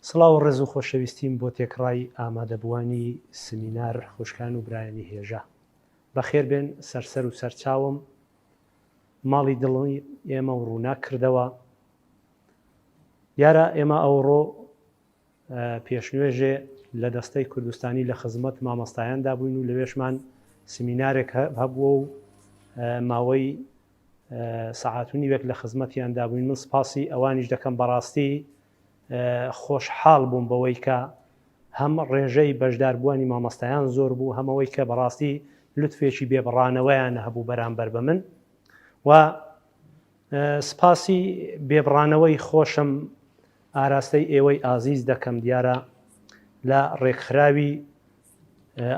سڵاو و ڕێز و خۆشەویستیم بۆ تێکڕای ئامادەبووانی سمینار خوشکان و برایانی هێژا بەخێربێن سەرسەر و سەرچاوم ماڵی دڵی ئێمە و ڕوونا کردەوە دیارە ئێمە ئەوڕۆ پێشنوێژێ لە دەستەی کوردستانی لە خزمەت مامۆستایاندا بووین و لەوێشمان سمینارێک هەبووە و ماوەی سەعاتونی وێک لە خزمەتیاندا بووین من سپاسی ئەوانیش دەکەم بەڕاستی خۆشحاڵ بووم بەوەی کە هەم ڕێژەی بەشداربووانی مامەستایان زۆر بوو هەمەوەی کە بەڕاستی لوتفێکی بێبڕانەوەیان هەبوو بەرامبەر بە من و سپاسی بێبڕانەوەی خۆشم ئاراستەی ئێوەی ئازیز دەکەم دیارە لە ڕێکخراوی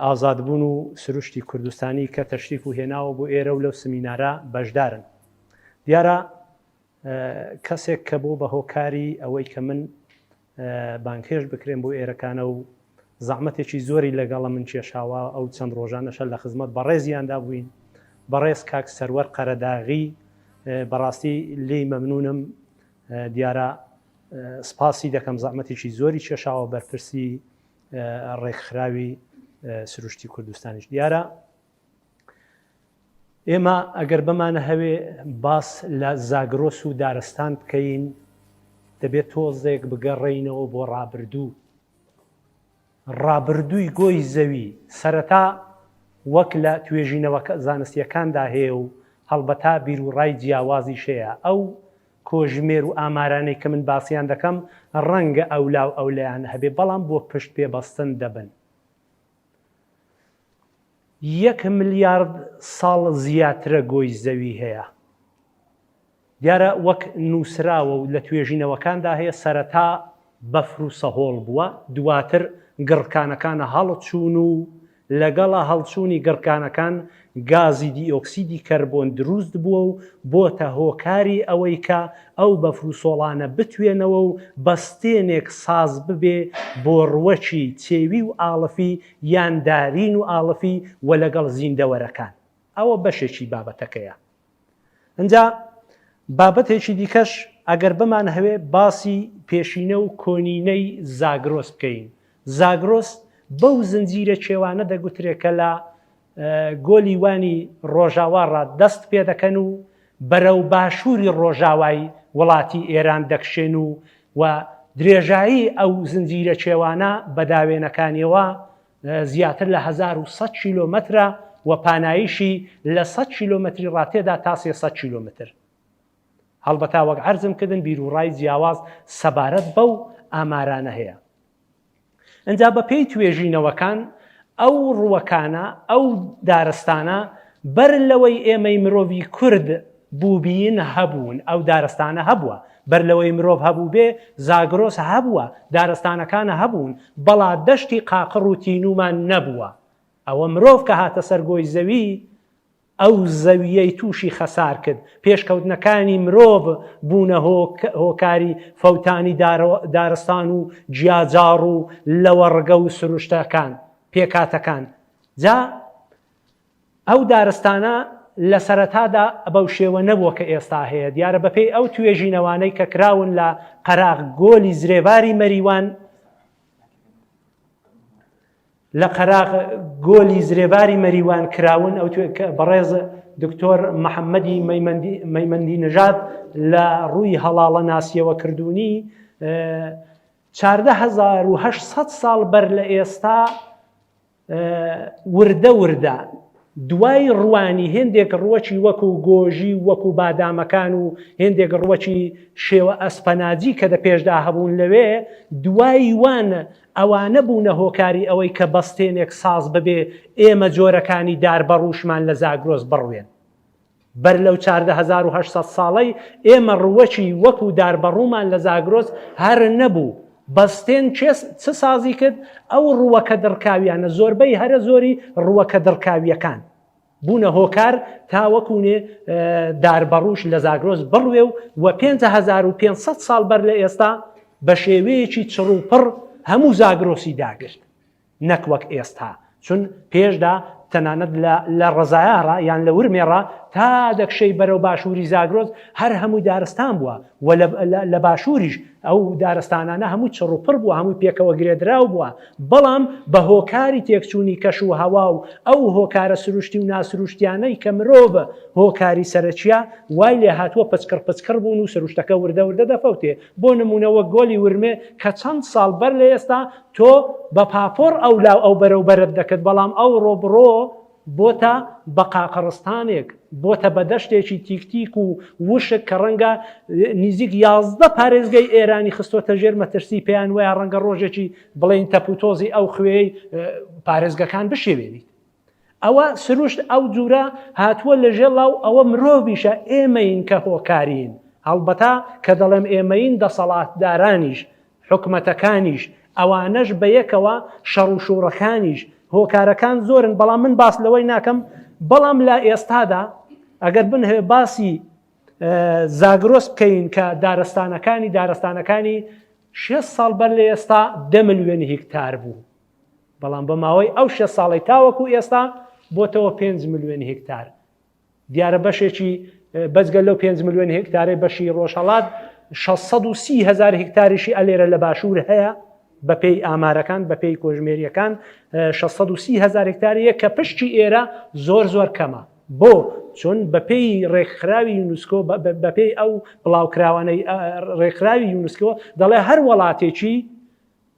ئازادبوون و سروشتی کوردستانی کە تەشریف و هێناوە بۆ ئێرە و لەو سمینارە بەشدارن دیارە کەسێک کە بۆ بە هۆکاری ئەوەی کە من بانگهێشت بکرێم بۆ ئێرەکانە و زەحمەتێکی زۆری لەگەڵە من کێشاوە ئەو چەند ڕۆژانەشە لە خزمەت بەڕێزیاندا بووین بەڕێز کاک سەروەر قەرەداغی بەڕاستی لی مەمنونم دیارە سپاسی دەکەم زەحمەتێکی زۆری کێشاوە بەرپرسی ڕێکخراوی سروشتی کوردستانیش دیارە ئێمە ئەگەر بمانە هەوێ باس لە زاگرۆس و دارستان بکەین دەبێت تۆزێک بگەڕێینەوە بۆ ڕابردوو ڕابردووی گۆی زەوی سەرەتا وەک لە توێژینەوە زانستیەکاندا هەیە و هەڵبەتا بیر و ڕای جیاوازی شەیە ئەو کۆژمێر و ئامارانەی کە من باسییان دەکەم ڕەنگە ئەولا و ئەولیان هەبێ بەڵام بۆ پشت پێبەستن دەبن یەک ملیارد ساڵ زیاترە گۆی زەوی هەیە. دیارە وەک نووسراوە و لە توێژینەوەکاندا هەیە سەرەتا بەفر و سەهۆڵ بووە، دواتر گڕکانەکانە هەڵچوون و لەگەڵ هەڵچوونی گڕکانەکان گازی دیۆکسیدی کەربۆن دروست بووە و بۆتە هۆکاری ئەوەی کە ئەو بەفر و سۆڵانە بتوێنەوە و بە ستێنێک ساز ببێ بۆ ڕوەکی چێوی و ئاڵفی یان دارین و ئاڵفی و لەگەڵ زیندەوەرەکان. ئەوە بەشێکی بابەتەکەیە. ئەجا بابەتێکی دیکەش ئەگەر بمان هەوێ باسی پێشینە و کۆنینەی زاگرۆس بکەین زاگرۆس بەو زنجیرە کێوانە دەگوترێت کە لە گۆلی وانی ڕۆژاواڕا دەست پێ دەکەن و بەرە و باشووری ڕۆژاوای وڵاتی ئێران دەکشێن و و درێژایی ئەو زنجیرە کێوانە بەداوێنەکانیەوە زیاتر لە هەزار و سەد کیلۆمەترە و پانایشی لە سەد کیلۆمەتری ڕاتێدا تا سێ سەد کیلۆمەتر. هەڵبەتا وەک عەرزم کردن بیروڕای جیاواز سەبارەت بەو ئامارانە هەیە. ئنجا بە پێی توێژینەوەکان ئەو ڕووەکانە ئەو دارستانە بەر لەوەی ئێمەی مرۆڤی کورد بووبین، هەبوون، ئەو دارستانە هەبووە، بەر لەوەی مرۆڤ هەبووبێ، زاگرۆس هەبووە، دارستانەکان هەبوون، بەڵا دەشتی قاقڕ و تینوومان نەبووە. ئەوە مرۆڤ کە هاتە سەر گۆی زەوی، ئەو زەوییەی تووشی خەسار کرد، پێشکەوتنەکانی مرۆڤ بوونە هۆکاری فەوتانی دارستان و جیاجاڕ و لەوەڕگە و سروشتەکان، پێکهاتەکان. جا ئەو دارستانە لە سەرەتادا بەو شێوە نەبووە کە ئێستا هەیە، دیارە بەپێی ئەو توێژینەوانەی کە کراون لە قەراغ گۆلی زرێڤاری مەریوان، لە قەراغ گۆلی زرێڤاری مەریوان کراون، ئەو بەڕێز دکتۆر محەممەدی مەیمەندی نژاد لە ڕووی هەڵاڵە ناسیەوە کردوونی، 14800 ساڵ بەر لە ئێستا، وردە وردە دوای ڕوانی هێندێک ڕوەکی وەکو گۆژی وەکو بادامەکان و هێندێک ڕوەکی شێوە ئەسپەناجی کە دە پێشدا هەبوون لەوێ دوای وان ئەوانە بوونە هۆکاری ئەوەی کە بەستێنێک ساز ببێ ئێمە جۆرەکانی دار بەڕوشمان لە زاگرۆز بڕوێن بەر لەو چاردە هەزار و هەشت سەد ساڵەی ئێمە ڕووەکی وەکوو داربەڕوومان لە زاگرۆس هەر نەبوو، بەستێن کێ چ سازی کرد؟ ئەو ڕووەکە دڕکاوییانە، زۆربەی هەرە زۆری ڕووەکە دڕکاوییەکان بوونە هۆکار تا وەکوو نێ داربەڕووش لە زاگرۆس بڕوێ و وە پێنج هەزار و پێنج سەد ساڵ بەر لە ئێستا بە شێوەیەکی چڕوپڕ هەموو زاگرۆسی داگرت. نەک وەک ئێستا چون پێشدا تەنانەت لە لە ڕەزایاڕا یان لە ورمێڕا تا دەکشێی بەرەو باشووری زاگرۆس هەر هەمووی دارستان بووە و لە باشووریش ئەو دارستانانە هەمووی چڕوپڕ بووە هەمووی پێکەوە گرێدراو بووە بەڵام بە هۆکاری تێکچوونی کەش و هەوا و ئەو هۆکارە سروشتی و ناسروشتیانەی کە مرۆڤە هۆکاری سەرەکیە وای لێ هاتووە پچکڕ پچکڕ بوون و سروشتەکە وردە وردە دەفەوتێ بۆ نمونەوە گۆلی ورمێ کە چەند ساڵ بەر لە ئێستا تۆ بە پاپۆڕ ئەو لاو ئەو بەرەو بەرەت دەکرد بەڵام ئەوڕۆ بڕۆ بۆتە بە قاقڕستانێک بۆتە بە دەشتێکی تیکتیک و وشک کە ڕەنگە نزیک یازدە پارێزگەی ئێرانی خستۆتە ژێر مەترسی پێیان وایە ڕەنگە ڕۆژێکی بڵین تەپوتۆزی ئەو خوێی پارێزگەکان بشێوێنیت ئەوە سروشت ئەو جورە هاتووە لە ژێ لاو ئەوە مرۆڤیشە ئێمەین کە هۆکارین هەڵبەتا کە دەڵێم ئێمەین دەسەڵاتدارانیش حکومەتەکانیش، ئەوانەش بەیەکەوە، شەڕوشوڕەکانیش، هۆکارەکان زۆرن، بەڵام من باس لەوەی ناکەم، بەڵام لە ئێستادا ئەگەر بنهەوێ باسی زاگرۆس بکەین کە دارستانەکانی دارستانەکانی شێست ساڵ بەر لە ئێستا دە ملیۆن هیکتار بوو، بەڵام بە ماوەی ئەو شێست ساڵەی تاوەکو ئێستا بۆتەوە پێنج ملیۆن هیکتار، دیارە بەشێکی بەجگە لەو پێنج ملیۆن هێکتارەی بەشی ڕۆژهەڵات شەش سەد و سی هەزار هێکتاریشی ئەلێرە لە باشوور هەیە بەپێی ئامارەکان بەپێی کۆژمێریەکان شەش سەد و سی هەزار هێکتاریە کە پشتی ئێرە زۆر زۆر کەمە بۆ چۆن بەپێی ڕێکخراوی یونسکۆ بەپێی ئەو بڵاوکراوانەی ڕێکخراوی یونسکۆ دەڵێ هەر وڵاتێکی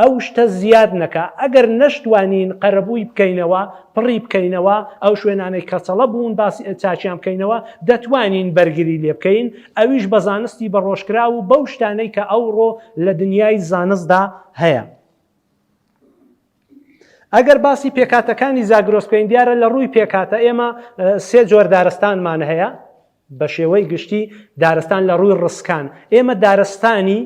ئەو شتە زیاد نەکا ئەگەر نەشتوانین قەرەبووی بکەینەوە پڕی بکەینەوە ئەو شوێنانەی کەچەڵە بوون باسی چاکیان بکەینەوە دەتوانین بەرگری لێ بکەین ئەویش بە زانستی بە ڕۆژکراو و بەو شتانەی کە ئەوڕۆ لە دنیای زانستدا هەیە. ئەگەر باسی پێکاتەکانی زاگرۆس بکەین دیارە لە ڕووی پێکاتە ئێمە سێ جۆر دارستانمان هەیە بە شێوەی گشتی دارستان لە ڕووی ڕسکان ئێمە دارستانی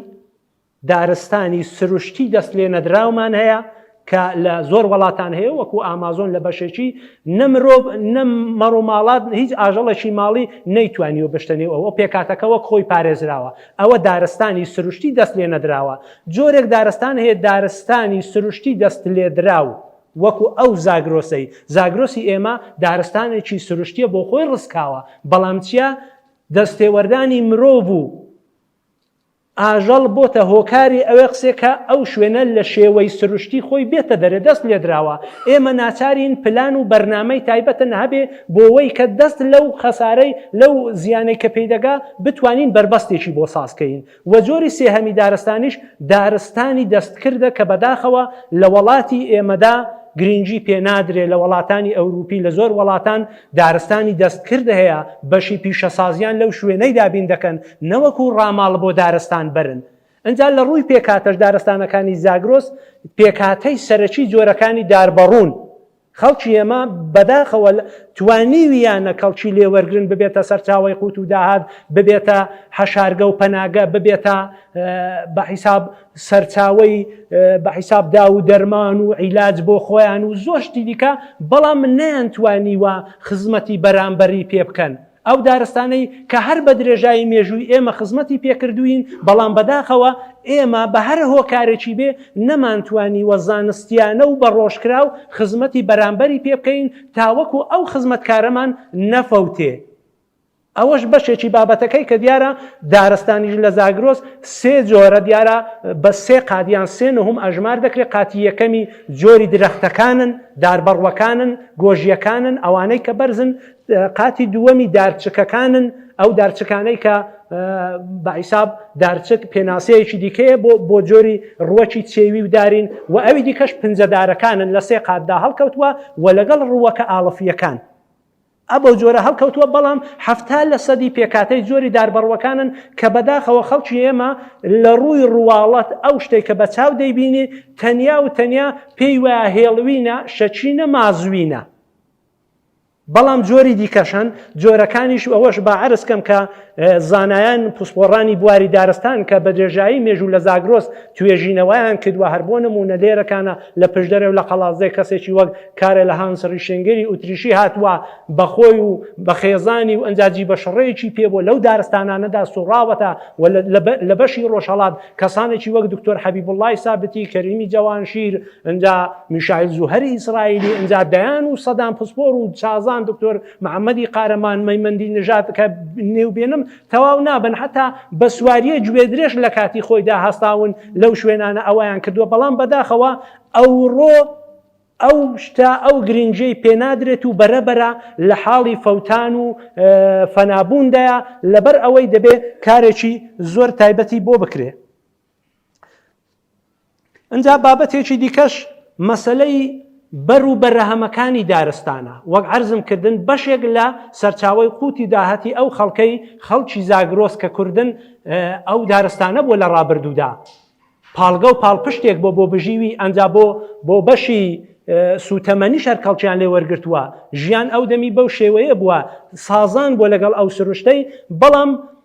دارستانی سروشتی دەست لێ نەدراومان هەیە کە لە زۆر وڵاتان هەیە وەکو ئامازۆن لە بەشێکی نە مرۆڤ نە مەڕ و ماڵات هیچ ئاژەڵێکی ماڵی نەیتوانی و بشتە نێو ئەوە پێکاتەکە وەک خۆی پارێزراوە ئەوە دارستانی سروشتی دەست لێ نەدراوە جۆرێک دارستان هەیە دارستانی سروشتی دەست لێدراو وەکو ئەو زاگرۆسەی زاگرۆسی ئێمە دارستانێکی سروشتیە بۆ خۆی ڕسکاوە بەڵام چیە دەستێوەردانی مرۆڤ و ئاژەڵ بۆتە هۆکاری ئەوێ قسێ کە ئەو شوێنە لە شێوەی سروشتی خۆی بێتە دەرێ دەست لێدراوە ئێمە ناچارین پلان و بەرنامەی تایبەتن هەبێ بۆوەی کە دەست لەو خەسارەی لەو زیانەی کە پێی دەگا بتوانین بەربەستێکی بۆ ساز کەین وە جۆری سێهەمی دارستانیش دارستانی دەستکردە کە بەداخەوە لە وەڵاتی ئێمەدا گرینگی پێ نادرێ لە وەڵاتانی ئەوروپی لە زۆر وەڵاتان دارستانی دەستکرد هەیە، بەشی پیشەسازیان لەو شوێنەی دابین دەکەن نەوەکو ڕاماڵ بۆ دارستان بەرن. ئنجا لە ڕووی پێکهاتەش دارستانەکانی زاگرۆس پێکهاتەی سەرەکی جۆرەکانی داربەڕوون. خەڵکی ئێمە بەداخەوە توانیویانە کەڵکی لێ وەرگرن ببێتە سەرچاوەی قووت و داهات، ببێتە حەشارگە و پەناگە، ببێتە بە حیساب سەرچاوەی بە حیساب دا و دەرمان و عیلاج بۆ خۆیان و زۆر شتی دیکە بەڵام من نیان توانیوە خزمەتی بەرامبەری پێ بکەن ئەو دارستانەی کە هەر بە درێژایی مێژووی ئێمە خزمەتی پێکردوین بەڵام بەداخەوە ئێمە بە هەر هۆکارێکی بێ نەمانتوانی وە زانستیانە و بە ڕۆژکراو خزمەتی بەرامبەری پێ بکەین تاوەکو ئەو خزمەتکارەمان نەفەوتێ ئەوەش بەشێکی بابەتەکەی کە دیارە دارستانیش لە زاگرۆس سێ جۆرە دیارە بە سێ قات یان سێ نهم ئەژمار دەکرێت قاتی یەکەمی جۆری درەختەکانن داربەڕوەکانن گۆژیەکانن ئەوانەی کە بەرزن قاتی دووەمی دارچکەکانن ئەو دارچکانەی کە بەعیساب دارچک پێناسەیەکی دیکەیە بۆ بۆ جۆری ڕوەکی چێوی و دارین و ئەوی دیکەش پنجەدارەکانن لە سێ قاتدا هەڵکەوتووە و لەگەڵ ڕووەکە ئاڵفیەکان ە بەو جۆرە هەڵکەوتووە، بەڵام حەفتا لە سەدی پێکهاتەی جۆری داربەڕووەکانن کە بەداخەوە خەڵکی ئێمە لە ڕووی ڕواڵەت ئەو شتەی کە بە چاو دەیبینی تەنیا و تەنیا پێی وایە هێڵوینە، شەچینە، مازوینە. بەڵام جۆری دیکەش هەن، جۆرەکانیش ئەوەش با عەرز کەم کە زانایان پسپۆڕانی بواری دارستان کە بە درێژایی مێژوو لە زاگرۆس توێژینەوەیان کردوە هەر بۆ نمونە لێرەکانە لە پشدەرێ و لە قەڵازێ کەسێکی وەک کارە لە هانس ڕیشنگری ئوتریشی هاتووە بەخۆی و بە خێزانی و ئەنجاجی بە شڕەیەکی پێ بۆ لەو دارستانانەدا سوڕاوەتە و لە بەشی ڕۆژهڵات کەسانێکی وەک دکتۆر حەبی بڵای سابتی کەریمی جەوانشیر ئەجا میشایل زوهری ئیسرائیلی ئەجا دەیان و سەدان پسپۆر و چازان دکتۆر محەمەدی قارەمان مەیمەندی نژاد کە نێوبێنم تەواو نابن حتا بە سواریە گوێدرێژ لە کاتی خۆیدا هەستاون لەو شوێنانە ئەویان کردووە بەڵام بەداخەوە ئەوڕۆ ئەو شتا ئەو گرنجەی پێنادرێت و بەرەبەرە لە حاڵی فەوتان و فەنابووندایە لەبەر ئەوەی دەبێت کارێکی زۆر تایبەتی بۆ بکرێت ئەجا بابەتێکی دیکەش مەسلەی بەر و بەرەهەمەکانی دارستانە وەک عرضم کردن بەشێک لە سەرچاوی قوتی داهەتی ئەو خەڵکەی خەڵکی زاگرۆس کە کوردن ئەو دارستانە بۆ لە ڕابردوودا پاڵگە و پاڵپشتێک بۆ بۆ بژیوی ئەجا بۆ بۆ بەشی سوتەمەنی شەرکەڵکیان لێ وەرگتووە ژیان ئەو دەمی بەو شێوەیە بووە سازان بۆ لەگەڵ ئەو سروشتەی بەڵام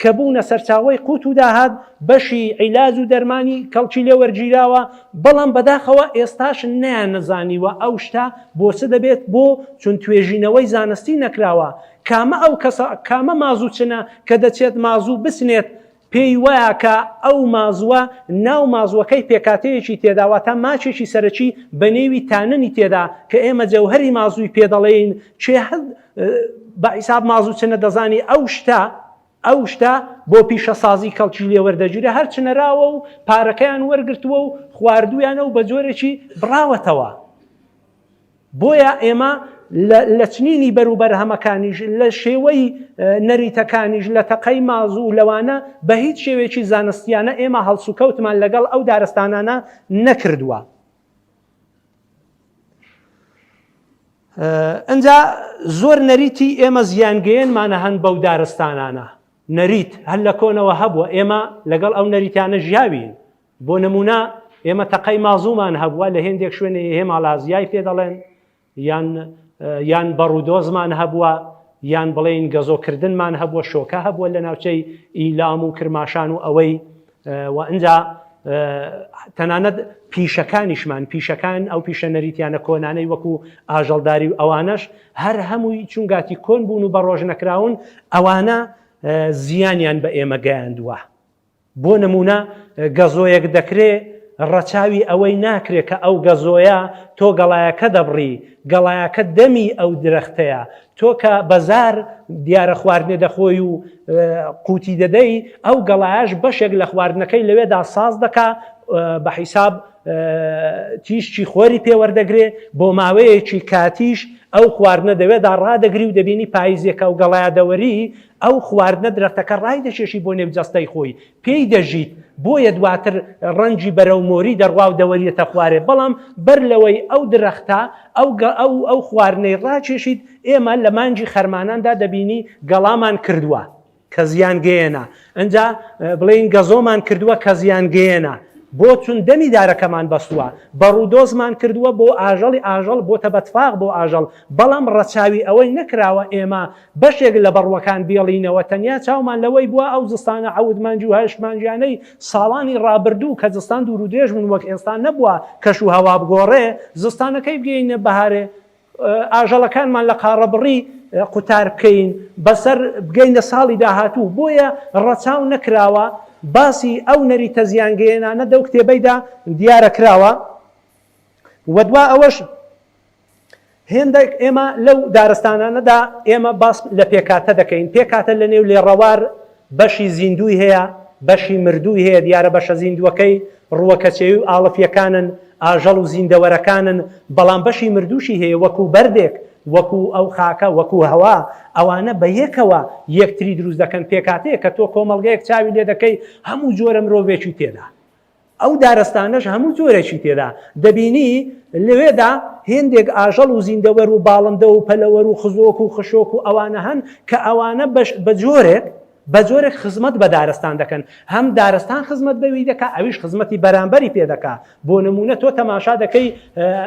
کە بوونە سەرچاوەی قوت و داهات، بەشی عیلاج و دەرمانی کەڵکی لێ وەرگیراوە، بەڵام بەداخەوە ئێستاش نەیانەزانیوە ئەو شتە بۆ چ دەبێت بۆ چون توێژینەوەی زانستی نەکراوە کامە ئەو کەسە کامە مازوو چنە کە دەچێت مازوو بچنێت پێی وایە کە ئەو مازووە ناو مازووەکەی پێکاتەیەکی تێدا واتە ماکێکی سەرەکی بەنێوی تاننی تێدا کە ئێمە جەوهەری مازووی پێ دەڵێین کێ بە حیساب مازوچنە دەزانی ئەو شتە ئەو شتە بۆ پیشەسازی کەڵکی لێوەردەگیرە هەر چنەراوە و پارەکەیان وەرگرتووە و خواردویانە و بە جۆرێکی بڕاوەتەوە بۆیە ئێمە لە چنینی بەروبەرهەمەکانیش لە شێوەی نەریتەکانیش لە تەقەی مازوو لەوانە بە هیچ شێوێکی زانستیانە ئێمە هەڵسوکەوتمان لەگەڵ ئەو دارستانانە نەکردووە. ئەجا زۆر نەریتی ئێمە زیانگەیەنمانە هەن بەو دارستانانە نەریت هەر لە کۆنەوە هەبووە ئێمە لەگەڵ ئەو نەریتانە ژیاوین بۆ نمونە ئێمە تەقەی مازومان هەبووە لە هێندێک شوێنێ هێماڵازیای پێ دەڵێن یان یان بەڕ و دۆزمان هەبووە، یان بڵێین گەزۆ کردنمان هەبووە، شۆکە هەبووە لە ناوچەی ئیلام و کرماشان و ئەوەی و ئنجا تەنانەت پیشەکانیشمان پیشەکان ئەو پیشە نەریتیانە کۆنانەی وەکو ئاژەڵداری و ئەوانەش هەر هەمووی چونگاتی کۆن بوون و بە ڕۆژ نەکراون ئەوانە زیانیان بە ئێمە گەیاندووە بۆ نموونە گەزۆیەک دەکرێ ڕەچاوی ئەوەی ناکرێ کە ئەو گەزۆیە تۆ گەڵایەکە دەبڕی، گەڵایەکە دەمی ئەو درەختەیە، تۆ کە بە زار دیارە خواردنێ دەخۆی و قووتی دەدەی، ئەو گەڵایەش بەشێک لە خواردنەکەی لەوێدا ساز دەکا، بە حیساب تیشکی خۆری پێوەردەگرێ، بۆ ماوەیەکی کاتیش ئەو خواردنە دەوێدا ڕادەگری و دەبینی پاییزێکە و گەڵایە دەوەری ئەو خواردنە درەختەکە ڕایدەکێشی بۆ نێو جەستەی خۆی، پێی دەژیت، بۆیە دواتر ڕەنگی بەرەو مۆری دەڕوا و دەوەریەتە خوارێ، بەڵام بەر لەوەی ئەو درەختە ئەو خواردنەی ڕاکێشیت، ئێمە لە مانگی خەرماناندا دەبینی گەڵامان کردووە کە زیان گەیەنە، ئنجا بڵێین گەزۆمان کردووە کە زیان گەیەنە، بۆ چون دەمی دارەکەمان بەستووە، بەڕوودۆزمان کردووە بۆ ئاژەڵی ئاژەڵ بۆتە بەتفاق بۆ ئاژەڵ، بەڵام ڕەچاوی ئەوەی نەکراوە ئێمە بەشێک لە بەڕوەکان بێڵینەوە تەنیا چاومان لەوەی بوە ئەو زستانە عەوت مانگی و هەشت مانگیانەی ساڵانی ڕابردوو کە زستان دوورودرێژ بوون وەک ئێستا نەبوە کەش و هەوا بگۆڕێ زستانەکەی بگەینە بەهارێ ئاژەڵەکانمان لە قاڕەبڕی قوتار بکەین بەسەر بگەینە ساڵی داهاتوو بۆیە ڕەچاو نەکراوە باسی ئەو نەریتە زیانگەیەنانە دەو کتێبەیدا دیارە کراوە وە دوا ئەوەش هێندێک ئێمە لەو دارستانانەدا ئێمە باس لە پێکاتە دەکەین، پێکاتە لە نێو لێڕەوار بەشی زیندووی هەیە، بەشی مردووی هەیە، دیارە بەشە زیندووەکەی ڕووەکەچێوی و ئاڵفییەکانن، ئاژەڵ و زیندەوەرەکانن، بەڵام بەشی مردووشی هەیە وەکوو بەردێک، وەکوو ئەو خاکە، وەکوو هەوا، ئەوانە بە یەکەوە یەکتری دروست دەکەن، پێکاتەیەک کە تۆ کۆمەڵگەیەک چاوی لێ دەکەی هەموو جۆرە مرۆڤێکی تێدا. ئەو دارستانەش هەموو جۆرێکی تێدا دەبینی، لەوێدا هێندێک ئاژەڵ و زیندەوەر و باڵندە و پەلەوەر و خزۆک و خشۆک و ئەوانە هەن کە ئەوانە بە جۆرێک بە جۆرێک خزمەت بە دارستان دەکەن، هەم دارستان خزمەت بەوی دەکا ئەویش خزمەتی بەرانبەری پێ دەکا، بۆ نموونە تۆ تەماشا دەکەی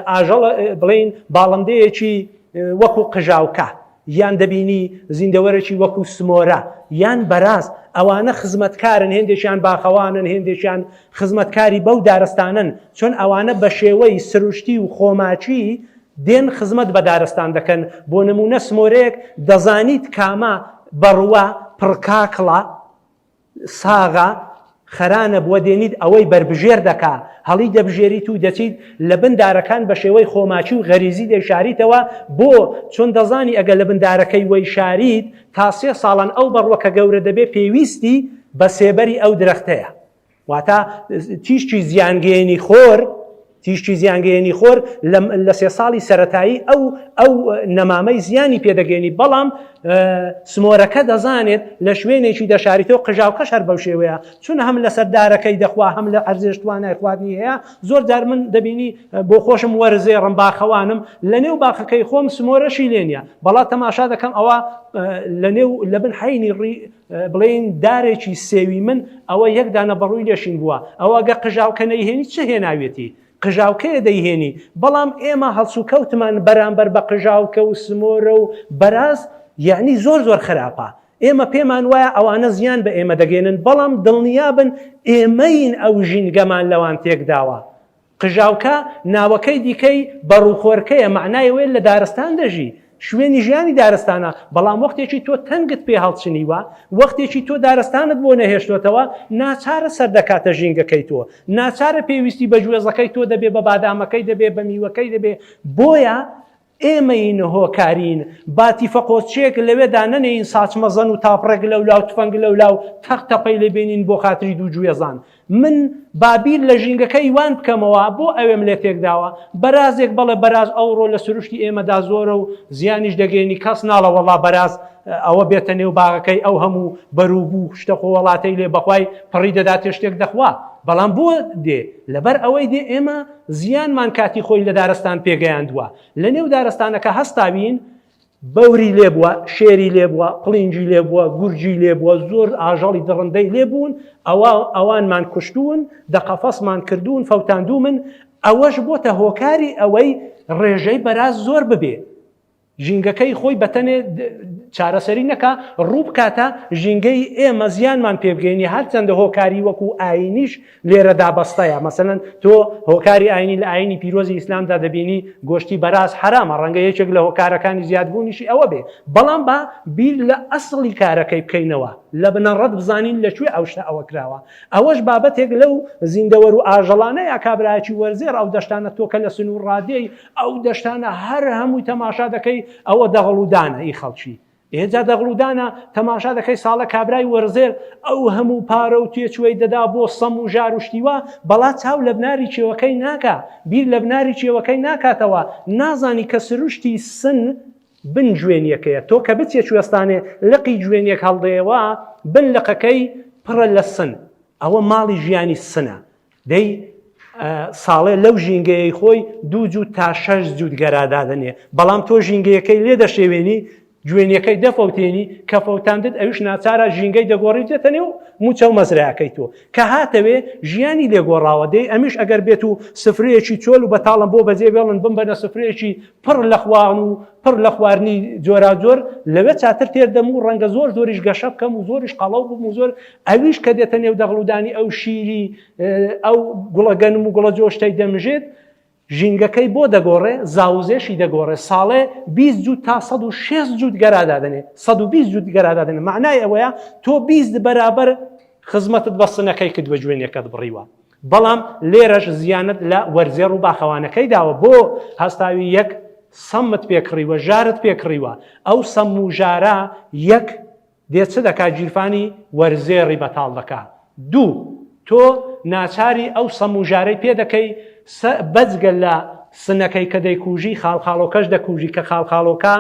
ئاژەڵ بڵێین باڵندەیەکی وەکو قژاوکە یان دەبینی زیندەوەرێکی وەکوو سمۆرە یان بەراز، ئەوانە خزمەتکارن، هێندێکیان باخەوانن، هێندێکیان خزمەتکاری بەو دارستانەن، چۆن ئەوانە بە شێوەی سروشتی و خۆماچی دێن خزمەت بە دارستان دەکەن، بۆ نموونە سمۆرەیەک دەزانیت کامە، بەڕووە، پڕکاکڵە، ساغە خەرانە بووە دێنیت ئەوەی بەربژێر دەکا هەڵی دەبژێریت و دەچیت لە بن دارەکان بە شێوەی خۆماچی و غەریزی دەیشاریتەوە بۆ چۆن دەزانی ئەگە لە بن دارەکەی وەی شاریت تا سێ ساڵان ئەو بەڕوە کە گەورە دەبێ پێویستی بە سێبەری ئەو درەختەیە واتە تیشکی زیانگەیەنی خۆر تیشکی زیانگەیەنی خۆر لە سێ ساڵی سەتایی ئەو ئەو نەمامەی زیانی پێدەگەێنی بەڵام سمۆرەکە دەزانێت لە شوێنێکی دەشاریتەوە قژاوکەش هەر بەو شێوەیە چون هەم لە سەردارەکەی دەخوا هەم لە ئەرزێش توانای خواردنی هەیە زۆر جار من دەبینی بۆ خۆشم وەرزێ ڕم باخەوانم لە نێو باخەکەی خۆم سمۆرەشی لێنە بەڵا تەماشا دەکەم ئەوە لە نێو لە بن حینی ڕی بڵێین دارێکی سێوی من ئەوە یەک دانە بەڕووی لێشین بووە ئەوە گە قژاوکە نەیهێنی چ هێناوێتی قژاوکەیە دەیهێنی بەڵام ئێمە هەڵسو کەوتمان بەرامبەر بە قژاوکە و سمۆرە و بەراز یعنی زۆر زۆر خراپە ئێمە پێمان وایە ئەوانە زیان بە ئێمە دەگەێنن بەڵام دڵنیابن ئێمەین ئەو ژینگەمان لەوان تێکداوە قژاوکە ناوەکەی دیکەی بەڕووخۆرکەیە، مەعنای ئەوەیە لە دارستان دەژی، شوێنی ژیانی دارستانە، بەڵام وەختێکی تۆ تەنگت پێ هەڵچنیوە، وەختێکی تۆ دارستانت بۆ نەهێشتۆتەوە، ناچارە سەردەکاتە ژینگەکەی تۆ، ناچارە پێویستی بە گوێزەکەی تۆ دەبێ، بە بادامەکەی دەبێ، بە میوەکەی دەبێ، بۆیە ئێمەین هۆکارین با تیفەقۆچێک لەوێدا نەنێین ساچ مەزەن و تاپڕێک لەو لاو تفەنگ لەو لاو تەق تەپەی لێ بێنین بۆ خاتری دوو گوێزان من بابیر لە ژینگەکە ئیوان بکەمەوە بۆ ئەوێم لێ تێکداوە بەرازێک بەڵێ بەراز ئەوڕۆ لە سروشتی ئێمەدا زۆرە و زیانیش دەگەێنی کەس ناڵە وەڵا بەراز ئەوە بێتە نێو باغەکەی ئەو هەموو بەروبوو شتە خۆوەڵاتەی لێ بەخوای پڕی دەداتێ شتێک دەخوا بەڵام بۆ دێ لەبەر ئەوەی دێ ئێمە زیانمان کاتی خۆی لە دارستان پێگەیاندووە، لە نێو دارستانەکە هەستاوین، بەوری لێ بووە، شێری لێ بووە، قڵینجی لێ بووە، گورجی لێ بووە، زۆر ئاژەڵی دڕندەی لێ بوون، ئەوا ئەوانمان کوشتوون، دە قەفەسمان کردوون، فەوتاندوومن، ئەوەش بۆتە هۆکاری ئەوەی ڕێژەی بەراز زۆر ببێ. ژینگەکەی خۆی بەتەنێ چارەسەری نەکا ڕوو بکاتە ژینگەی ئێمە زیانمان پێبگەینی هەرچەندە هۆکاری وەکو ئاینیش لێرە دابەستەیە مەسەن تۆ هۆکاری ئاینی لە ئاینی پیرۆزی ئیسلامدا دەبینی گۆشتی بەراز حرامە ڕەنگە یەکێک لە هۆکارەکانی زیادبوونیشی ئەوە بێ بەڵام بە بیر لە ئەسڵی کارەکەی بکەینەوە لە بنەڕەت بزانین لە کوێ ئەو شتە ئەوە کراوە ئەوەش بابەتێک لەو زیندەوەر و ئاژەڵانەیە کابراایکی وەرزێر ئەو دەشتانە تۆکە لە سنوور ڕادێی ئەو دەشتانە هەر هەمووی تەماشا دەکەی ئەوە دەغڵودانە ئی خەڵکی ئێجا دەغڵودانە تەماشا دەکەی ساڵە کابرای وەرزێر ئەو هەموو پارە و تێچوەی دەدا بۆ سەم و ژار و شتیوە بەڵا چاو لە بناری چێوەکەی ناکە بیر لە بناری چێوەکەی ناکاتەوە نازانی کە سروشتی سن بن جوێنیەکەیە تۆ کە بچێ کوێستانێ لقی جوێنیەک هەڵدەیەوە بن لقەکەی پڕە لە سن ئەوە ماڵی ژیانی سنە دەی ساڵێ لەو ژینگەیەی خۆی دوو جووت تا شەش جووت گەرادادنێ بەڵام تۆ ژینگەیەکەی لێ دەشێوێنی جوێنەکەی دەفەوتێنی کە فەوتاندت ئەوش ناچارە ژینگەی دەگۆڕی دێتە نێو موچە و مەزراەکەی تۆ کە هاتەوێ ژیانی لێگۆڕاوە دەی ئەمیش ئەگەر بێت و سفرەیەکی چۆل و بەتاڵم بۆ بەجێ بێڵن بم بەە سفرەیەکی پڕ لە خوان و پڕ لە خوارنی جۆراجۆر لەوێ چاتر تێردەم و ڕەنگە زۆر زۆریش گەشە بکەم و زۆریش قەڵەو بم و زۆر ئەویش کە دێتە نێو دەغڵودانی ئەو شیری ئەو گوڵە گەنم و گوڵە جۆشتەی دەمژێت ژینگەکەی بۆ دەگۆڕێ زاوزێشی دەگۆڕێ ساڵێ 20 جوود تا 16 جوود گەرادادنێ 120 جوود گەرادادنێ معنای ئەوەیە تۆ 20 بەرابەر خزمەتت بە سنەکەی کرد بە جوێنەکەت بڕیوە بەڵام لێرەش زیانت لە وەرزێڕ و باخەوانەکەی داوە بۆ هەستاوی یەک سەمت پێکڕیوە ژارت پێکڕیوە ئەو سەم و ژارە یەک دێ چ دەکا گیرفانی وەرزێڕی بەتاڵ دەکا دوو تۆ ناچاری ئەو سەم و ژارەی پێ دەکەی سە بەجگە لە سنەکەی کە دەیکوژی خاڵخاڵۆکەش دەکوژی کە خاڵخاڵۆکە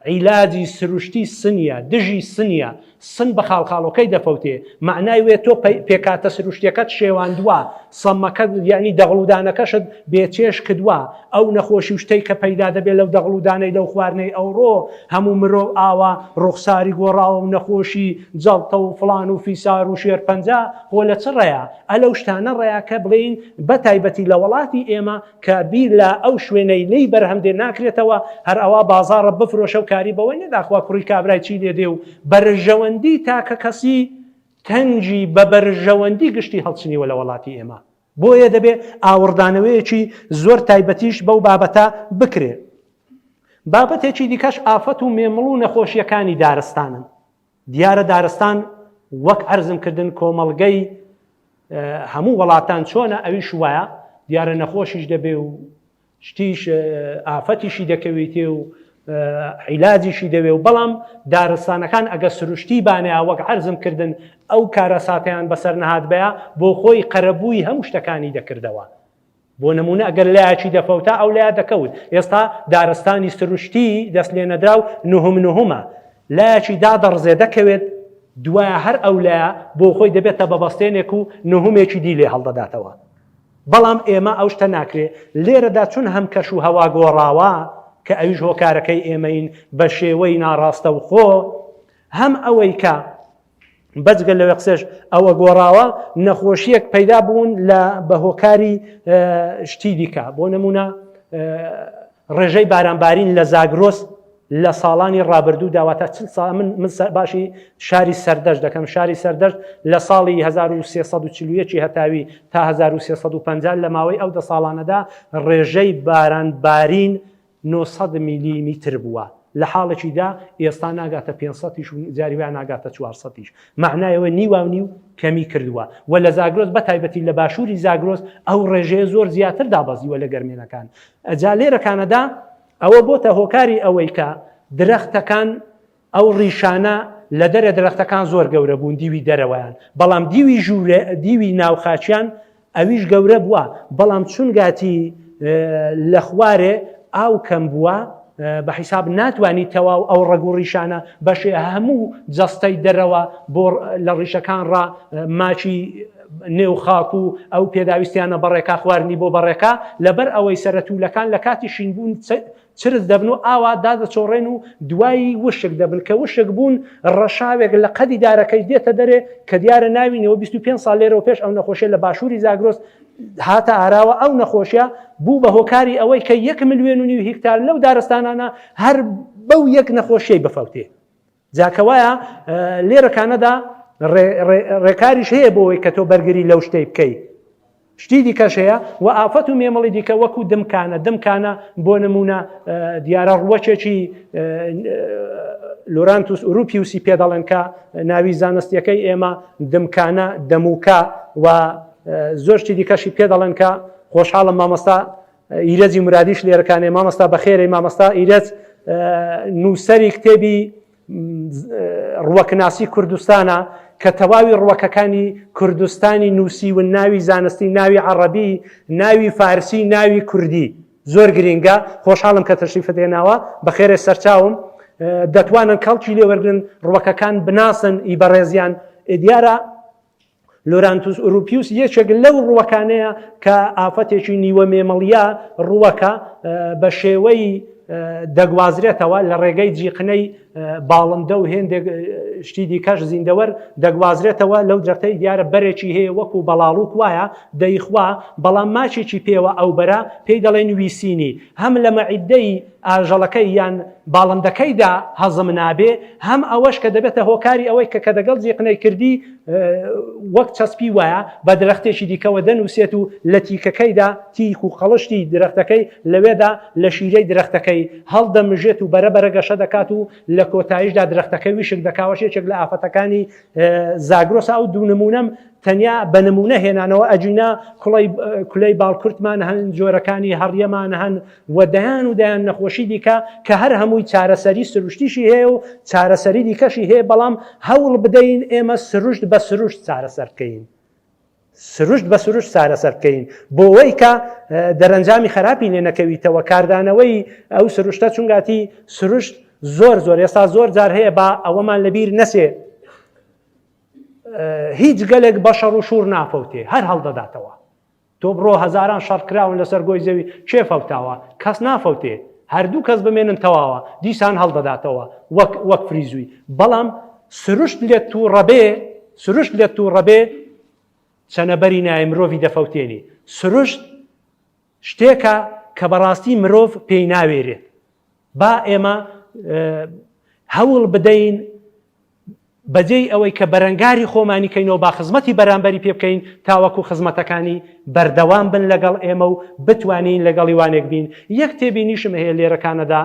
عیلاجی سروشتی سنیە دژی سنیە سن بە خاڵخاڵۆکەی دەفەوتێ مەعنای وێ تۆ پێ پێکاتە سروشتیەکەت شێواندوە سمەکەت یەعنی دەغڵ و دانەکەشت بێ چێژ کدوە ئەو نەخۆشی و شتەی کە پەیدا دەبێ لەو دەغڵ و دانەی لەو خواردنەی ئەوڕۆ هەموو مرۆ ئاوا ڕوخساری گۆڕاوە و نەخۆشی جەڵتە و فڵان و فیسار و شێرپەنجە خۆ لە چ ڕێیا ئە لەو شتانە ڕێیا کە بڵێین بە تایبەتی لە وەڵاتی ئێمە کە بیر لە ئەو شوێنەی لێی بەرهەم دێ ناکرێتەوە هەر ئەوا بازاڕە بفرۆشە و کاری بەوەی نەدا خوا کوڕی کابرای چی لێ دێ و بەرژەوەندی تاکەکەسی تەنگی بە بەرژەوەندی گشتی هەڵچنیوە لە وەڵاتی ئێمە، بۆیە دەبێ ئاوڕدانەوەیەکی زۆر تایبەتیش بەو بابەتە بکرێ. بابەتێکی دیکەش ئافەت و مێمڵ و نەخۆشییەکانی دارستانن. دیارە دارستان وەک عەرزم کردن کۆمەڵگەی هەموو وەڵاتان چۆنە ئەویش وایە، دیارە نەخۆشیش دەبێ و شتیش ئافەتیشی دەکەویتێ و عیلاجیشی دەوێ و بەڵام دارستانەکان ئەگە سروشتی بانەیە وەک عەرزم کردن ئەو کارەساتیان بەسەر نەهات بەیە بۆ خۆی قەرەبووی هەموو شتەکانی دەکردەوە بۆ نمونە ئەگەر لایەکی دەفەوتا ئەو لای دەکەوت ئێستا دارستانی سروشتی دەست لێ نەدرا و نهم نهمە لایەکی دادەڕزێ دەکەوێت دوایە هەر ئەو لایە بۆ خۆی دەبێتە بەبەستێنێک و نهمێکی دی لێ هەڵدەداتەوە بەڵام ئێمە ئەو شتە ناکرێ لێرەدا چون هەم کەش و هەوا گۆڕاوە کە ئەویش هۆکارەکەی ئێمەین بە شێوەی ناڕاستەوخۆ هەم ئەوەی کە بەجگە لەوێ قسێش ئەوە گۆڕاوە نەخۆشیەک پەیدا بوون لە بە هۆکاری شتی دیکە بۆ نمونە ڕێژەی بارانبارین لە زاگرۆس لە ساڵانی ڕابردوو داواتە چل سا من من باشی شاری سەردەشت دەکەم شاری سەردەشت لە ساڵی 1340 هەتاوی تا 1350 لە ماوەی ئەو دە ساڵانەدا ڕێژەی باران بارین 900 میلیمیتر بووە لە حاڵێکی دا ئێستا ناگاتە پێنج سەد یش و جاری وا ناگاتە چوار سەد یش. مەعنای ئەوەی نیواونیو کەمی کردووە و لە زاگرۆس بە تایبەتی لە باشووری زاگرۆس ئەو ڕێژەیە زۆر زیاتر دابەزیوە لە گەرمێنەکان. جا لێرە کانەدا ئەوە بۆتە هۆکاری ئەوەی کە درەختەکان ئەو ڕیشانە لە دەرە درەختەکان زۆر گەورە بوون دیوی دەرەوەیان بەڵام دیوی ژوورێ دیوی ناو خاکیان ئەویش گەورە بوە بەڵام چونگاتی لە خوارێ ئاو کەم بوە بە حیساب ناتوانانی تەواو ئەو ڕەگ و ڕیشانە بەشێ هەموو جەستەی دەرەوە بۆ لە ڕیشەکان ڕ ماچی نێو خاک و ئەو پێداویستیانە بەڕێکا خواردنی بۆ بەڕێکە لەبەر ئەوەی سەرەتوولەکان لە کاتی شینبوون چرچ دەبن و ئاوا دادەچۆڕێن و دوایی وشک دەبن کە وشک بوون ڕەشاوێک لە قەدی دارەکەی دێتە دەرێ کە دیارە ناوینەوە 25 ساڵ لێرەوە پێش ئەو نەخۆشیە لە باشووری زاگرۆس هاتە ئاراوە ئەو نەخۆشیە بوو بە هۆکاری ئەوەی کە یەک ملیێن و نیو هیکتار لەو دارستانانە هەر بەو یەک نەخۆشیەی بفەوتێ جا کەوایە لێرە کانەدا ڕێکاریش هەیە بۆەوەی کە تۆ بەرگری لەو شتەی بکەی شتی دیکەش هەیە و ئافەت و مێمەڵی دیکە وەکو دمکانە دمکانە بۆ نمونە دیارە ڕوەچێکی لۆرانتوس ئوروپی وسی پێ دەڵێن کە ناوی زانستیەکەی ئێمە دمکانە دەموکە و زۆرشتی دیکەشی پێ دەڵێن کە خۆشحاڵم مامۆستا ئیرەجی مرادیش لێرەکانێ مامەستا بەخێرەی مامەستا ئیرەج نووسری کتێبی ڕوەکناسی کوردستانە کە تەواوی ڕوەکەکانی کوردستانی نووسی و ناوی زانستی ناوی عەڕەبی ناوی فارسی ناوی کوردی زۆر گرنگە خۆشحاڵم کە تەشریفت هێناوە بەخێرێ سەرچاوم دەتوانن کەڵکی لێوەرگن ڕوەکەکان بناسن ئی بەڕێزیان دیارە لۆرانتوس ئوروپیوس یەکێک لەو ڕووەکانەیە کە ئافەتێکی نیوە مێمەڵیا ڕووەکە بە شێوەی دەگوازرێتەوە لە ڕێگەی جیقنەی باڵندە و هێندێک شتی دیکەش زیندەوەر دەگوازرێتەوە لەو جەرتەی دیارە بەرێکی هەیە وەکو بەڵاڵوک وایە دەیخوا بەڵام ماچێکی پێوە ئەو بەرە پێی دەڵێن ویسینی هەم لە مەعیدەی ئاژەڵەکەی یان باڵندەکەیدا هەزم نابێ، هەم ئەوەش کە دەبێتە هۆکاری ئەوەی کە کە دەگەڵ زیقنەی کردی وەک چەسپی وایە بە درەختێکی دیکەوە دەنووسێت و لە تیکەکەیدا تیک و قەڵشتی درەختەکەی لەوێدا لە شیرەی درەختەکەی هەڵدەمژێت و بەرە بەرە گەشە دەکات و لە کۆتایشدا درەختەکە ویشک دەکاوەش یەکێک لە ئافەتەکانی زاگرۆسە ئەو دوو نموونەم تەنیا بە نموونە هێنانەوە ئەگینا کوڵەی کولەی باڵکورتمان هەن جۆرەکانی هەڕیەمان هەن و دەیان و دەیان نەخۆشی دیکە کە هەر هەمووی چارەسەری سروشتیشی هەیە و چارەسەری دیکەشی هەیە بەڵام هەوڵ بدەین ئێمە سروشت بە سروشت چارەسەر بکەین سروشت بە سروشت چارەسەر بکەین بۆەوەی کە دەرەنجامی خراپی لێ نەکەویتەوە کاردانەوەی ئەو سروشتە چونگاتی سروشت زۆر زۆر ئێستا زۆر جار هەیە با ئەوەمان لەبیر نەچێ هیچ گەلێک بە شەڕ و شوڕ نافەوتێ، هەر هەڵدەداتەوە. تۆ بڕۆ هەزاران شەڕ کراون لەسەر گۆی زەوی، کێ فەوتاوە؟ کەس نافەوتێ. هەر دوو کەس بمێنن تەواوە، دیسان هەڵدەداتەوە وەک وەک فریزووی. بەڵام سروشت لێت تووڕە بێ، سروشت لێت تووڕە بێ، چەنەبەری نایە، مرۆڤی دەفەوتێنی. سروشت شتێکە کە بەڕاستی مرۆڤ پێی ناوێرێت با ئێمە هەوڵ بدەین بەجێی ئەوەی کە بەرەنگاری خۆمانی کەینەوە با خزمەتی بەرامبەری پێ بکەین تاوەکو خزمەتەکانی بەردەوام بن لەگەڵ ئێمە و بتوانین لەگەڵی وانێک بین یەک تێبینیشم هەیە لێرەکانەدا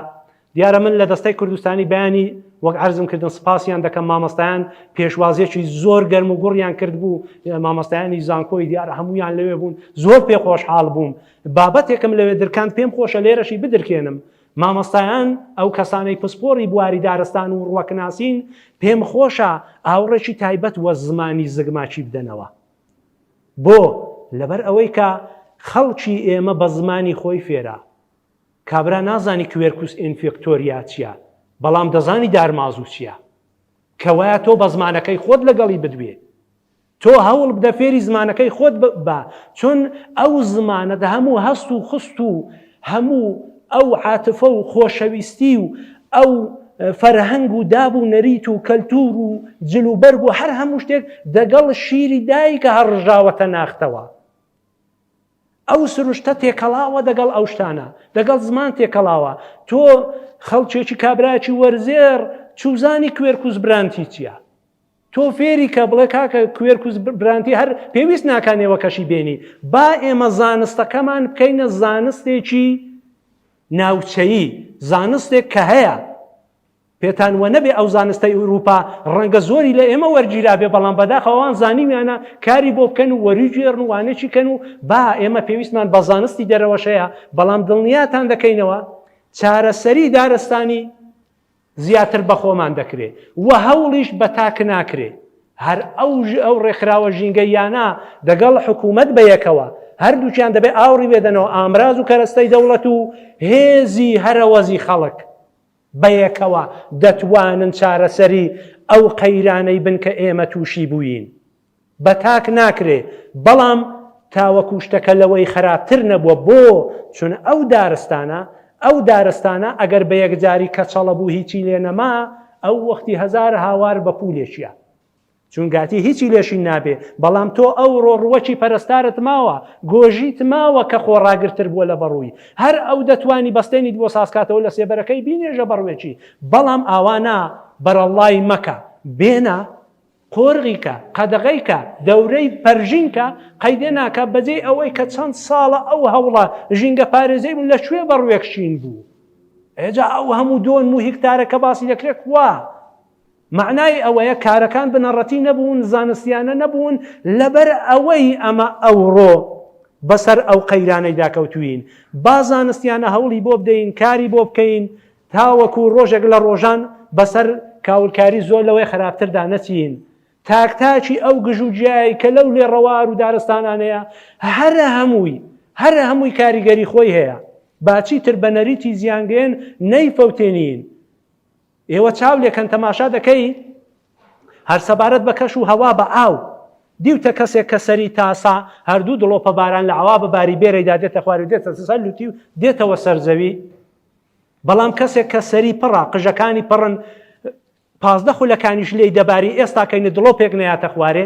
دیارە من لە دەستەی کوردستانی بەیانی وەک عرزم کردن سپاسیان دەکەم مامەستایان پێشوازیەکی زۆر گەرم و گوڕیان کرد بوو مامەستایانی زانکۆی دیارە هەمویان لەوێ بوون زۆر پێ خۆشحاڵ بووم بابەتێکم لەوێ درکان پێم خۆشە لێرەشی بدرکێنم مامەستایان ئەو کەسانەی پسپۆری بواری دارستان و ڕوەکناسین پێم خۆشە ئاوڕێکی تایبەت وە زمانی زگماچی بدەنەوە بۆ لەبەر ئەوەی کە خەڵکی ئێمە بە زمانی خۆی فێرا کابرا نازانی کوێرکوس ئینفیکتۆریا چیە بەڵام دەزانی دارمازوو چیە کەوایە تۆ بە زمانەکەی خۆت لەگەڵی بدوێ تۆ هەوڵ بدە فێری زمانەکەی خۆت بە چون ئەو زمانە دە هەموو هەست و خست و هەموو ئەو عاتفە و خۆشەویستی و ئەو فەرهەنگ و داب و نەریت و کەلتور و جل و بەرگ و هەر هەموو شتێک دەگەڵ شیری دایکە هەڕژاوەتە ناختەوە ئەو سروشتە تێکەڵاوە دەگەڵ ئەو شتانە دەگەڵ زمان تێکەڵاوە تۆ خەڵکێکی کابراکی وەرزێر چوزانی کوێرکوز برانتی چییە تۆ فێری کە بڵێ کاکە کوێرکوز برانتی هەر پێویست ناکانەوە کەشی بێنی با ئێمە زانستەکەمان بکەینە زانستێکی ناوچەیی زانستێک کە هەیە پێتان وەنەبێ ئەو زانستەی ئورووپا ڕەنگە زۆری لە ئێمە وەرگیرابێ بەڵام بەداخە ئەوان زانیویانە کاری بۆ بکەن و وەریگوێڕن و وانەکی کەن و با ئێمە پێویستمان بە زانستی دەرەوەشەیە بەڵام دڵنیاتان دەکەینەوە چارەسەری دارستانی زیاتر بەخۆمان دەکرێ و هەوڵیش بە تاک ناکرێ هەر ئەو ئەو ڕێکخراوە ژینگەیانە دەگەڵ حکوومەت بەیەکەوە هەردووکیان دەبێ ئاوڕی بێدەنەوە ئامراز و کەرەستەی دەوڵەت و هێزی هەرەوەزی خەڵک بەیەکەوە دەتوانن چارەسەری ئەو قەیرانەی بن کە ئێمە تووشی بووین. بە تاک ناکرێ، بەڵام تاوەکو شتەکە لەوەی خەراپتر نەبووە. بۆ؟ چون ئەو دارستانە، ئەو دارستانە ئەگەر بە یەکجاری کەچەڵە بوو هیچی لێ نەما، ئەو وەختی هەزار هاوار بە پوولێکیا. چون گاتی هیچی لێ شین نابێ، بەڵام تۆ ئەوڕۆ ڕووەکی پەرستارت ماوە، گۆژیت ماوە کە خۆڕاگرتر بووە لە بەڕووی، هەر ئەو دەتوانی بەستێنیت بۆ سازکاتەوە لە سێبەرەکەی بینێژە بەڕووێکی، بەڵام ئاوا نا، بەرەڵڵای مەکە، بێنە، قۆرغی کە، قەدەغەی کە، دەورەی پەرژین کە، قەیدێ ناکا، بەجێی ئەوەی کە چەند ساڵە ئەو هەوڵە ژینگەپارێزەی بوو لە کوێ بەڕووێک شین بوو؟ ئێجا ئەو هەموو دۆن و هیکتارە کە باسی دەکرێ کوا؟ مەعنای ئەوەیە کارەکان بنەڕەتی نەبوون، زانستیانە نەبوون، لەبەر ئەوەی ئەمە ئەوڕۆ بەسەر ئەو قەیرانەیدا کەوتووین، با زانستیانە هەوڵی بۆ بدەین، کاری بۆ بکەین، تاوەکو ڕۆژێک لە ڕۆژان بەسەر کاولکاری زۆر لەوەی خراپتردا نەچین. تاک تاکی ئەو گژ و جیایەی کە لەو لێڕەوار و دارستانانەیە، هەرە هەمووی، هەرە هەمووی کاریگەری خۆی هەیە. با چیتر بە نەریتی زیانگەیەن نەیفەوتێنین. ئێوە چاو لێکەن تەماشا دەکەی هەر سەبارەت بە کەش و هەوا بە ئاو دیوتە کەسێک کە سەری تاسا هەردوو دڵۆپە باران لە ئاوا بە باری بێرەیدا دێتە خوارو دێتە سەر لوتی و دێتەوە سەرزەوی بەڵام کەسێک کە سەری پڕا قژەکانی پڕن پازدە خولەکانیش لی دەباری ئێستا کەینە دڵۆپێک نەیاتە خوارێ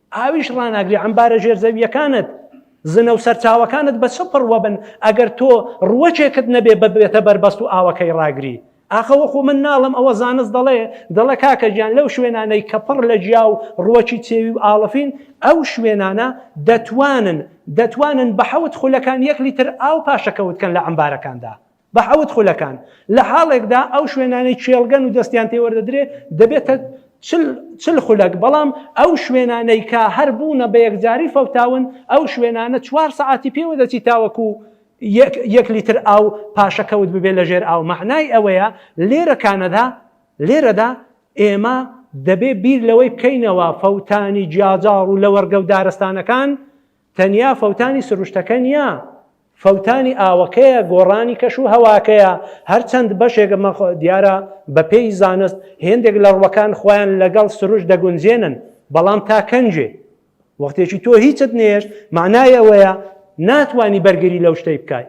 ئاویش ڕاناگری عەمبارە ژێرزەوییەکانت زنە و سەرچاوەکانت بە چ پڕوە بن ئەگەر تۆ ڕوەکێکت نەبێ ببێتە بەربەست و ئاوەکەی ڕاگری ئاخەوەخۆ من ناڵم ئەوە زانست دەڵێ دەڵە کاکە گیان لەو شوێنانەی کە پڕ لە جیا و ڕوەکی چێوی و ئاڵفین ئەو شوێنانە دەتوانن دەتوانن بە حەوت خولەکان یەک لیتر ئاو پاشەکەوتکەن لە عەمبارەکاندا بە حەوت خولەکان، لە حاڵێکدا ئەو شوێنانەی کێڵگەن و دەستیان پێ وەردەدرێ دەبێتە چل چل خولەک، بەڵام ئەو شوێنانەی کە هەر بوونە بە یەکجاری فەوتاون، ئەو شوێنانە چوار سەعاتی پێوە دەچی تاوەکو یەک یەک لیتر ئاو پاشەکەوت ببێ لە ژێر ئاو، مەعنای ئەوەیە لێرە کانەدا لێرەدا ئێمە دەبێ بیر لەوەی بکەینەوە فەوتانی جیاجاڕ و لەوەڕگە و دارستانەکان تەنیا فەوتانی سروشتەکە نییە، فەوتانی ئاوەکەیە، گۆڕانی کەش و هەواکەیە، هەرچەند بەشێک دیارە بەپێی زانست هێندێک لە ڕووەکان خۆیان لەگەڵ سروشت دەگونجێنن، بەڵام تا کەنجێ وەختێکی تۆ هیچت نەهێشت مەعنای ئەوەیە ناتوانی بەرگری لەو شتەی بکای.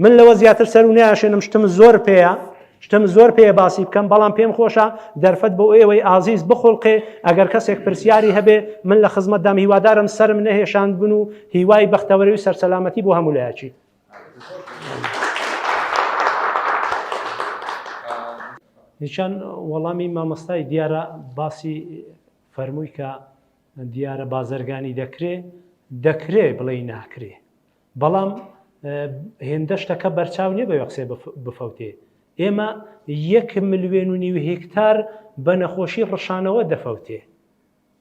من لەوە زیاتر سەر و ناشێنم شتم زۆر پێەیە شتم زۆر پێ باسی بکەم بەڵام پێم خۆشە دەرفەت بۆ ئێوەی ئازیز بخڵقێ ئەگەر کەسێک پرسیاری هەبێ من لە خزمەت دام هیوادارم سرم نەهێشاند بن و هیوای بەختەوەری و سەرسەلامەتی بۆ هەموو لایەکی هیچان وەڵامی مامەستای دیارە باسی فەرمووی کە دیارە بازرگانی دەکرێ دەکرێ بڵێ ناکرێ بەڵام هێندە شتەکە بەرچاو نیە بەوێ قسێ بفەوتێ ئێمە یەک ملیێن و نیو هکتار بە نەخۆشی ڕشانەوە دەفەوتێ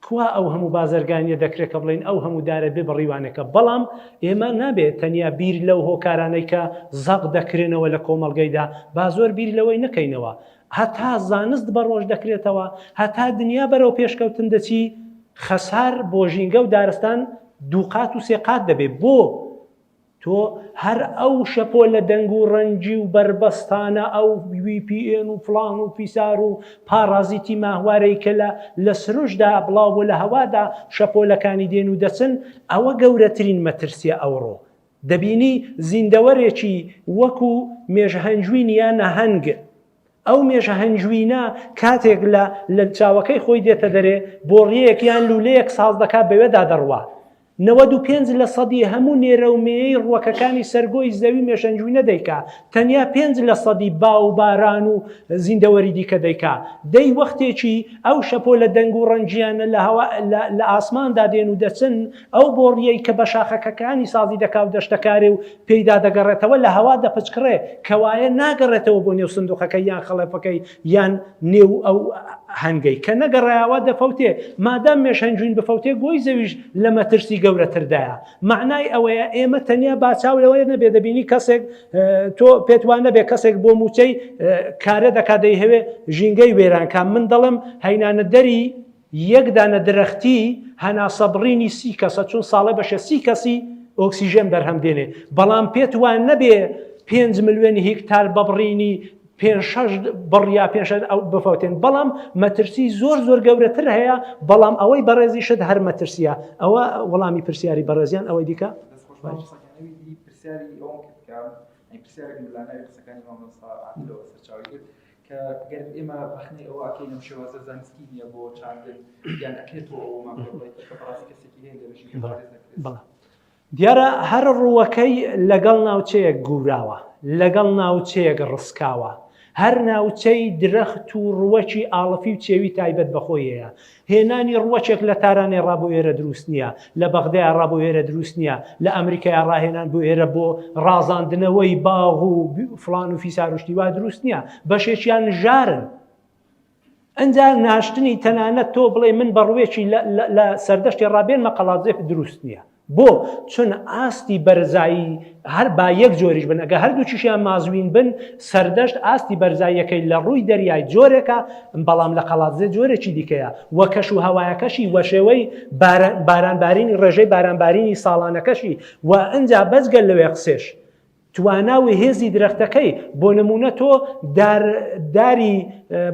کوا ئەو هەموو بازرگانیە دەکرێت کە بڵین ئەو هەموو دارە بێ بڕیوانەکە بەڵام ئێمە نابێت تەنیا بیر لەو هۆکارانەی کە زەق دەکرێنەوە لە کۆمەڵگەیدا با زۆر بیر لەوەی نەکەینەوە هەتا زانست بەڕۆژ دەکرێتەوە، هەتا دنیا بەرەو پێشکەوتن دەچی، خەسار بۆ ژینگە و دارستان دووقات و سێ قات دەبێ. بۆ؟ تۆ هەر ئەو شەپۆلە دەنگ و ڕەنگی و بەربەستانە، ئەو وی پی ئێن و فڵان و فیسار و پاڕازیتی ماهوارەی کە لە لە سروشتدا بڵاو بۆ لە هەوادا شەپۆلەکانی دێن و دەچن، ئەوە گەورەترین مەترسییە ئەوڕۆ. دەبینی زیندەوەرێکی وەکو مێژهەنجوین یا نەهەنگ، ئەو مێژهەنجوینە کاتێک لە لە چاوەکەی خۆی دێتە دەرێ بۆڕیەیەک یان لولەیەک ساز دەکا بەوێدا دەڕوا، نەوەد و پێنج لە سەدی هەموو نێرەو مێیەی ڕوەکەکانی سەر گۆی زەوی مێژهەنجوینە دەیکا، تەنیا پێنج لە سەدی با و باران و زیندەوەری دیکە دەیکا، دەی وەختێکی ئەو شەپۆلە دەنگ و ڕەنگیانە لە هەوا لە لە ئاسماندا دێن و دەچن، ئەو بۆڕییەی کە بە شاخەکەکانی سازی دەکا و دەشتەکارێ و پێیدا دەگەڕێتەوە لە هەوا دەپچکڕێ، کەوایە ناگەڕێتەوە بۆ نێو سندووقەکەی یان خەڵەفەکەی یان نێو ئەو هەنگەی کە نەگەڕایەوە دەفەوتێ، مادام مێشهنجوین بفەوتێ گۆی زەویش لە مەترسی گەورەتردایە. مەعنای ئەوەیە ئێمە تەنیا با چاو لەوە نەبێ دەبینی کەسێک تۆ پێت وا نەبێ کەسێک بۆ مووچەی کارە دەکا دەیهەوێ ژینگەی وێران کا من دەڵێم هەینانەدەری یەک دانە درەختی هەناسە بڕینی سی کەسە چون ساڵێ بەشە سی کەسی ئۆکسیژێن بەرهەم دێنێ بەڵام پێت وان نەبێ پێنج ملیۆن هیکتار بە بڕینی بڕیا پێ بفوتێن بەڵام مەترسی زۆر زۆر گەورەتر هەیە بەڵام ئەوەی بەڕێزی شت هەر مەترسیە ئەوە وەڵامی پرسیاری بەڕێزیان ئەوەی دیکە پرسیاری ئەوم کرد کە پرسیارێک لەلایەن قسەکانی مامۆستا عادلەوە سەرچاوەی کرد کە گەر ئێمە ڕەخنەی ئەوە ئەکەین ئەم شێوازە زانستی نییە بۆ چاندن، یان ئەکرێت بۆ ئەوەمان پێ بڵێت کە بەڕاستی کەسێکی هەیە لە ژینگە پارێز دەکرێت؟ بەڵێ. دیارە هەر ڕووەکەی لەگەڵ ناوچەیەک گووراوە، لەگەڵ ناوچەیەک ڕسکاوە. هەر ناوچەی درەخت و ڕووەکی ئاڵفی و چێوی تایبەت بە خۆی هەیە. هێنانی ڕووەکێک لە تارانێ ڕا بۆ ئێرە دروست نییە، لە بەغدایە ڕا بۆ ئێرە دروست نییە، لە ئەمریکایە ڕا هێنان بۆ ئێرە بۆ ڕازاندنەوەی باغ و فڵان و فیسار و شتی وا دروست نییە، بەشێکیان ژارن. ئەنجا ناشتنی تەنانەت تۆ بڵێ من بە ڕووێکی لە سەردەشتێ ڕا بێنمە قەڵادزێ دروست نییە. بۆ؟ چون ئاستی بەرزایی هەر با یەک جۆریش بن، ئەگەر هەردووکیشیان مازوین بن، سەردەشت ئاستی بەرزاییەکەی لە ڕووی دەریای جۆرێکە، بەڵام لە قەڵادزێ جۆرێکی دیکەیە و کەشوهەوایەکەشی و شێوەی بارانبارینی ڕێژەی بارانبارینی ساڵانەکەشی و ئنجا بەجگە لەوێ قسێش توانا و هێزی درەختەکەی، بۆ نموونە تۆ دار داری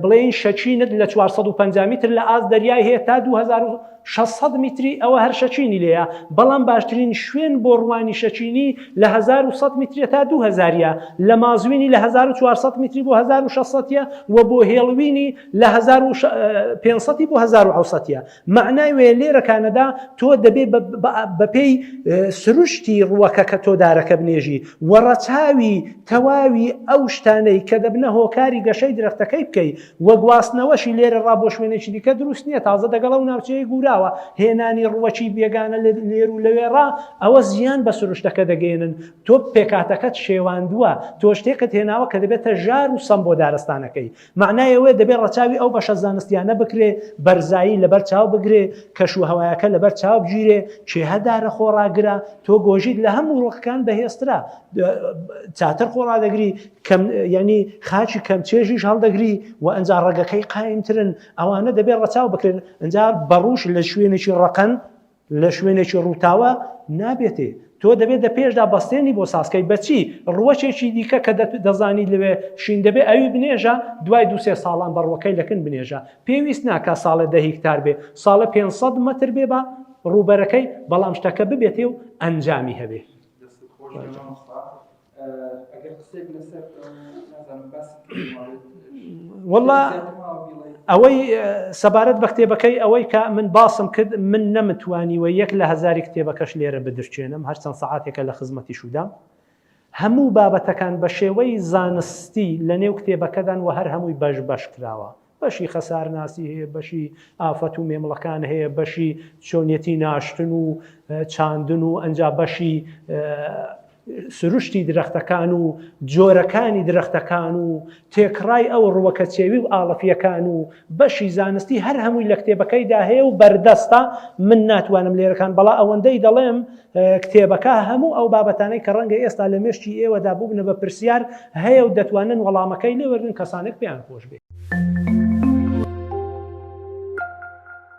بڵێین شەچینت لە چوار سەد و پەنجا میتر لە ئاست دەریای هەیە تا دوو هەزار و شەش سەد میتری ئەوە هەر شەچینی لێیە، بەڵام باشترین شوێن بۆ ڕووانی شەچینی لە هەزار و سەد میتریە تا دوو هەزار ە، لە مازوینی لە هەزار و چوار سەد میتری بۆ هەزار و شەش سەد ە و بۆ هێڵوینی لە هەزار و پێنج سەد ی بۆ هەزار و حەوت سەد ە. مەعنای وێ لێرە کانەدا تۆ دەبێ بە پێی سروشتی ڕووەکە کە تۆ دارەکە بنێژی و ڕەچاوی تەواوی ئەو شتانەی کە دەبنە هۆکاری گەشەی درەختەکەی بکەی وە گواستنەوەشی لێرە ڕا بۆ شوێنێکی دیکە دروست نییە تازە دەگەڵ ئەو ناوچەیە گوراوە هێنانی ڕووەکی بێگانە لێر و لەوێڕا ئەوە زیان بە سروشتەکە دەگەێنن تۆ پێکاتەکەت شێواندووە تۆ شتێکت هێناوە کە دەبێتە ژار و سەم بۆ دارستانەکەی مەعنای ئەوەیە دەبێ ڕەچاوی ئەو بەشە زانستیانە بکرێ، بەرزایی لەبەر چاو بگرێ، کەش و هەوایەکە لەبەر چاو بگیرێ، کێهە دارە خۆڕاگرە، تۆ گۆژیت لە هەموو ڕوخکان بەهێزترە، چاتر خۆڕادەگری، کەم یانی خاچی کەم چێژیش هەڵدەگری و ئنجا ڕەگەکەی قایمترن، ئەوانە دەبێ ڕەچاو بکرێن، ئنجا بەڕووش لە شوێنێکی ڕەقەن، لە شوێنێکی ڕووتاوە نابێتێ. تۆ دەبێ دە پێشدا بەستێنی بۆ سازکەی بەچی ڕووەکێکی دیکە کە دەزانی لەوێ شین دەبێ ئەوی بنێژە دوای دوو سێ ساڵان بە ڕووەکەی لە کن بنێژە پێویست ناکا ساڵێ دە هیکتار بێ ساڵە پێنج سەد مەتر بێ بە ڕووبەرەکەی بەڵام شتەکە ببێتێ و ئەنجامی هەبێ. وەڵا ئەوەی سەبارەت بە کتێبەکەی ئەوەی کە من باسم کرد من نەمتوانیوە یەک لە هزاری کتێبەکەش لێرە بدرچێنم هەرچەند سەعاتێکە لە خزمەتی شودام هەموو بابەتەکان بە شێوەی زانستی لە نێو کتێبەکەدان و هەر هەمووی بەش بەش کراوە بەشی خەسارناسی هەیە، بەشی ئافەت و مێمڵەکان هەیە، بەشی چۆنیەتی ناشتن و چاندن و ئەنجا بەشی سروشتی درەختەکان و جۆرەکانی درەختەکان و تێکڕای ئەو ڕوەکە چێوی و ئاڵەفیەکان و بەشی زانستی هەر هەمووی لە کتێبەکەیدا هەیە و بەردەستە من ناتوانم لێرەکان بەڵا ئەوەندەی دەڵێم کتێبەکە هەموو ئەو بابەتانەی کە ڕەنگە ئێستا لە مێشکی ئێوەدا بووبنە بە پرسیار هەیە و دەتوانن وەڵامەکەی لێ وەرگرن کەسانێک پێیان خۆش بێ.